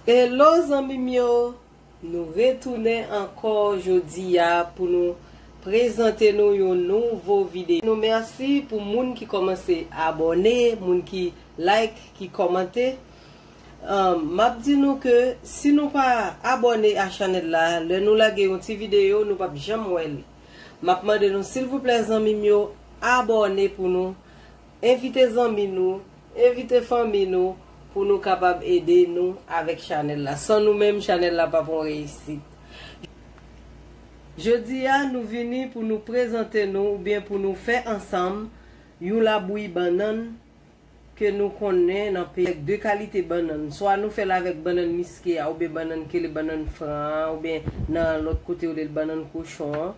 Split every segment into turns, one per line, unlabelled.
Hello zanmim yo nou retounen ankò jodia pou nou prezante nou yon nouvo video nou merci pou moun ki kòmanse abòne moun ki like ki kòmante. Map di nou ke si nou pa abòne a chanèl la lè nou lage yon ti video nou pap janm wèl map mande nou silvouplè zanmim yo abòne pou nou envite zanmi nou envite fanmi nou pou nou kapab ede nou avèk chanèl la san nou menm chanèl la pap yon reyisit jodia nou vini pou nou prezante nou oubyen pou nou fè ansanm yon labouyi bannann ke nou konnen nan peyi avèk 2 kalite bannann, swa nou fèl avèk bannann miske a oubyen bannann kele bannann fran an oubyen nan lòt kote yo rele l bannann kochon an.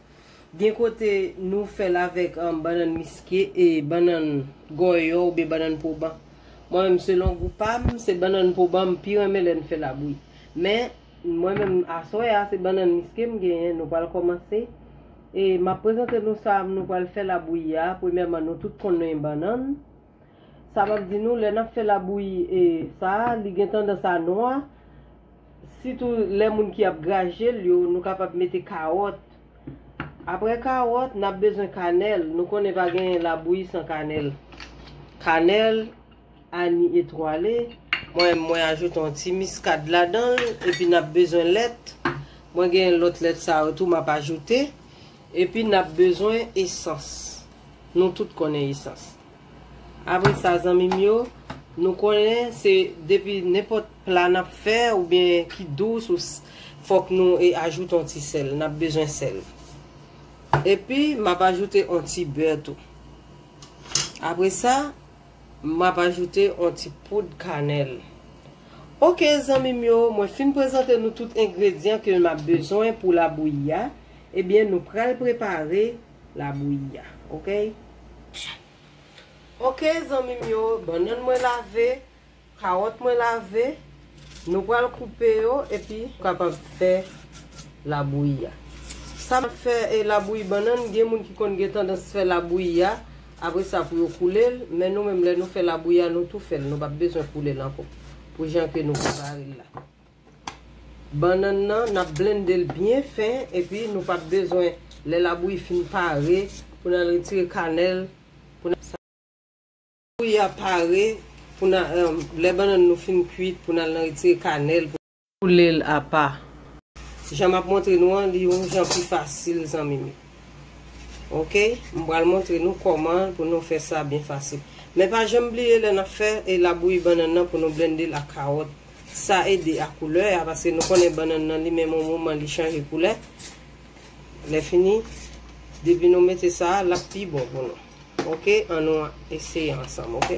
Gen kote nou fèl avèk bannann miske e bannann gòyò oubyen bannann poban. Mwen menm selon gou pam se bannann poban m pi renmen lèn fèl a bri. Men. Mwen menm aswè a se bannann miske m genyen nou pral kòmanse e map prezante nou sa nou pral fè labouyi a premyèman nou tout konnen bannann sa map di nou lè nap fè labouyi e sa li gen tandans a nwa sitou lè moun ki ap graje l yo nou kapab mete kawòt aprè kawòt nap bezwen kanèl nou konnen pa gen labouyi san kanèl kanèl Annie Etoile. Mwen mwen ajoute yon ti miskad ladan l epi n ap bezwen lèt. Mwen gen lòt lèt sa yo tou m ap ajoute. Epi n ap bezwen esans. Nou tout konnen esans. Apre sa zanmi m yo, nou konnen se depi nenpòt pla n ap fè oubyen ki dous ou fòk nou e ajoute yon ti sèl. N ap bezwen sèl. Epi m ap ajoute yon ti bè tou. Apre sa. Map ajoute on ti poud kanèl. Ok zanmim yo mwen fin prezante nou tout engredyan ke map bezwen pou labouyi a ebyen nou pral prepare labouyi a ok. Ok zanmim yo bannann mwen lave. Kawòt mwen lave, nou pral koupe yo epi. Kapab fè labouyi a. Sa map fè e labouyi bannann, gen moun ki konn gen tandans fè labouyi a, apre sa pou yo koule l, men nou menm lè nou fè labouyi a nou tou fè l, nou pap bezwen koule l ankò, pou jan ke nou prepare l la. Bannann nan nap blende l byen fen epi nou pap bezwen lè labouyi fin pare pou n al retire kanèl pou n. Koulye a pare pou nan lè bannann nou fin kuit pou nan al nan retire kanèl pou koulel apa. Jan map montre nou an li yon jan pi fasil zanmim yo ok m pral montre nou kòman pou nou fè sa byen fasil men pa janm bliye lè nap fè e labouyi bannann nan pou nou blendel ak kawòt sa ede a koulè a paske nou konnen bannann nan li menm yon moman li chanje koulè. Lèfini depi nou mete sa a lap pi bon pou nou ok an nou eseye ansanm ok.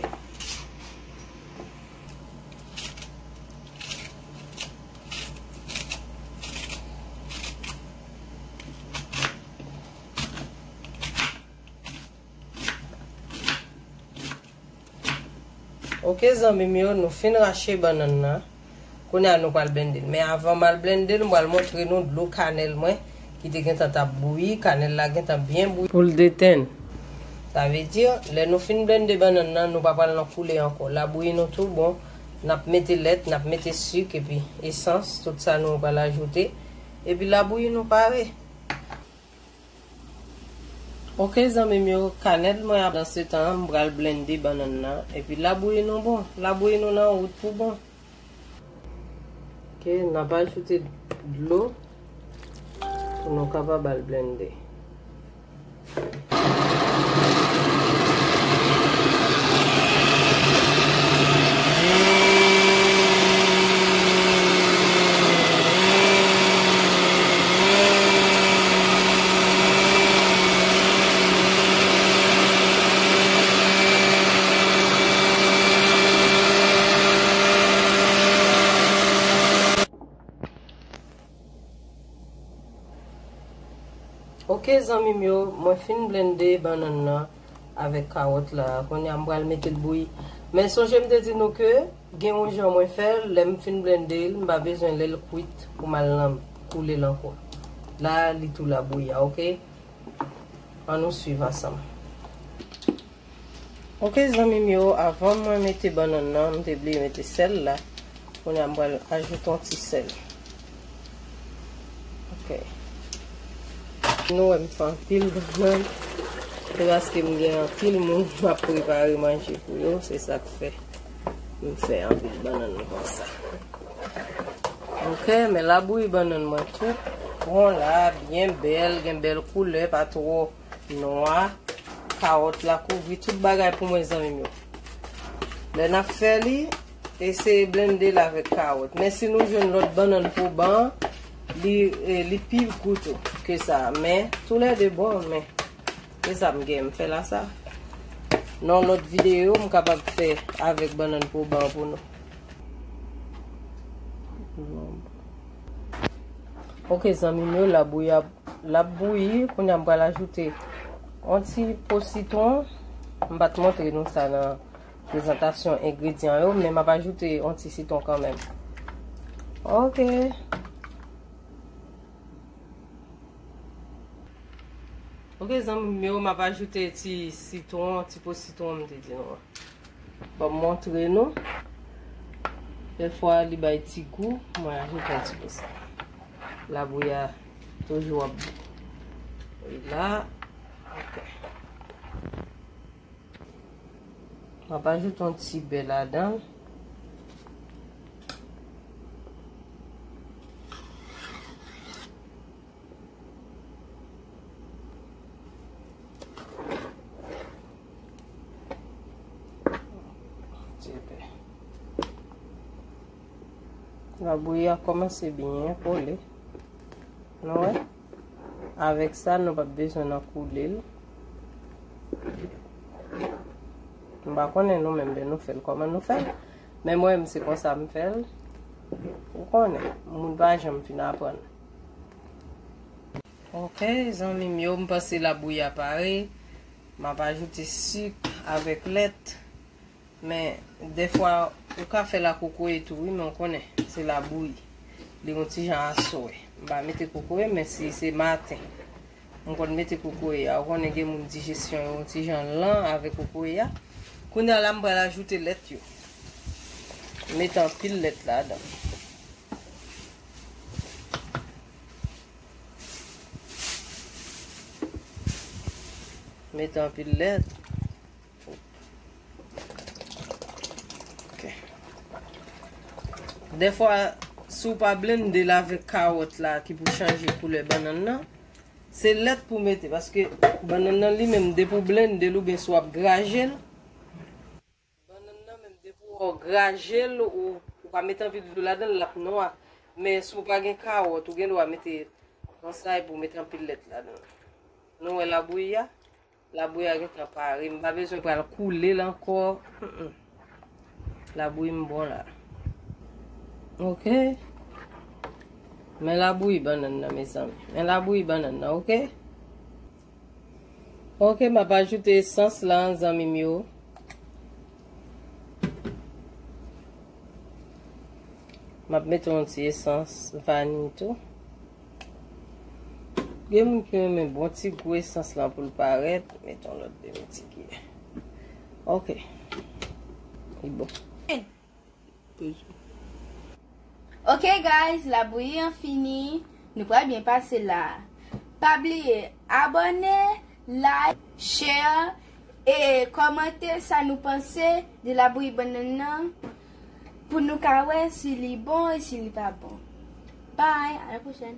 Ok zanmim yo nou fin rache bannann nan kounye a nou pral blendel men avan mal blendel m pral montre nou dlo kanèl mwen ki te gentan tap bouyi kanèl la gentan byen bouyi poul detenn sa vle di lè nou fin blende bannann nan nou pa pral nan koule ankò la bouyi nou tou bon nap mete lèt nap mete suk epi esans tout sa nou pral ajoute epi la bouyi nou pare. Ok zanmim yo kanèl mwen ap dansetan an m pral blende bannann nan epi labouyi nou bon labouyi nou nan wout pou bon. Ok nap ajoute dlo pou nou kapab al blende. Ok zanmim yo mwen fin blende bannann nan. avèk kawòt la kounye a m pral mete l bouyi men sonje m te di nou ke gen yon jan mwen fè l lè m fin blende l m pa bezwen lè l kwit pou m al nan koule l ankò la li tou la bouyi a ok an nou swiv ansanm ok zanmi m yo avan mwen mete bannann nan m te bliye mete sèl la kounye a m pral ajoute yon ti sèl. Ok. Nou wèm fè anpil bannan. Se paske m gen anpil moun m ap prepare manje pou yo. Se sa k fè. M fè anpil bannan kon sa. Ok. Men labouyi bannan mwen tou. Bon la. Byen bèl. Gen bèl koulè. Pa twò nwa. Kawòt la kouvri tout bagay pou mwen zanmi m yo. Lè n ap fè li. Eseye blende l avèk kawòt. Men si nou jwenn lòt bannann pou ban an, li li pi gou tou ke sa. Men, tou lè 2 bon, men se sa m gen m fè la sa. Nan yon lòt videyo, m kapab fè avèk bannann pou ban pou nou. Ok zanmi m yo, la bouyi ap, l ap bouyi. Kounye a m pral ajoute yon ti po sitwon. M pa t montre nou sa nan. Prezantasyon engredyan yo, men map ajoute yon ti sitron kanmenm. Ok. Ok zanmim yo, map ajoute ti sitron, ti po sitron m te di nou an. Bon m montre nou. Dè fwa li bay ti gou, mwen ajoute yon ti po sa. Labouyi a toujou ap bou. Oy la. Ok. Map ajoute yon ti bè ladan. Labouyi a komanse byen kole. Nou wè? Avèk sa nou pap bezwen nan koule l. M pa konnen nou menm lè nou fè l kòman nou fè l. Men mwen menm se konsa m fè l. Ou konnen, moun pa janm fin aprann. Ok zanmi m yo, m panse labouyi a pare. M ap ajoute sik avèk lèt. Men dèfwa ou ka fèl ak kokoye tou wi men ou konnen se labouyi li yon ti jan aswè m pa mete kokoye men si se maten m konn mete kokoye a ou konnen gen moun dijesyon yo yon ti jan lan avèk kokoye a kounya la m pral ajoute lèt yo m met anpil lèt ladan m met anpil lèt. Dèfwa si w pa blende l avèk kawòt la ki pou chanje koulè bannann nan, se lèt pou mete paske bannann nan li menm depi w blende l oubyen si w ap graje l, bannann nan menm depi w graje l ou pa mete anpil dlo ladan l l ap nwa. Men si w pa gen kawòt ou gendwa mete kwansay pou w mete anpil lèt ladan l. Nou wè labouyi a? Labouyi a gentan pare, m pa bezwen pral koule l ankò, labouyi m bon la. Ok, men labouyi bannann nan mezanmi, men labouyi bannann nan ok. Ok, m ap ajoute esans la zanmi m yo. M ap mete yon ti esans vani tou. Gen moun ki renmen bon ti gou esans lan pou l parèt, met yon lòt demi ti ki. Ok. Li bon.
Ok guys, labouyi an fini, nou pral byen pase la. Pa bliye abòne, like, share e kòmante sa nou panse de labouyi bannann nan. Pou nou ka wè si li bon e si li pa bon. Bye, a la pwochèn.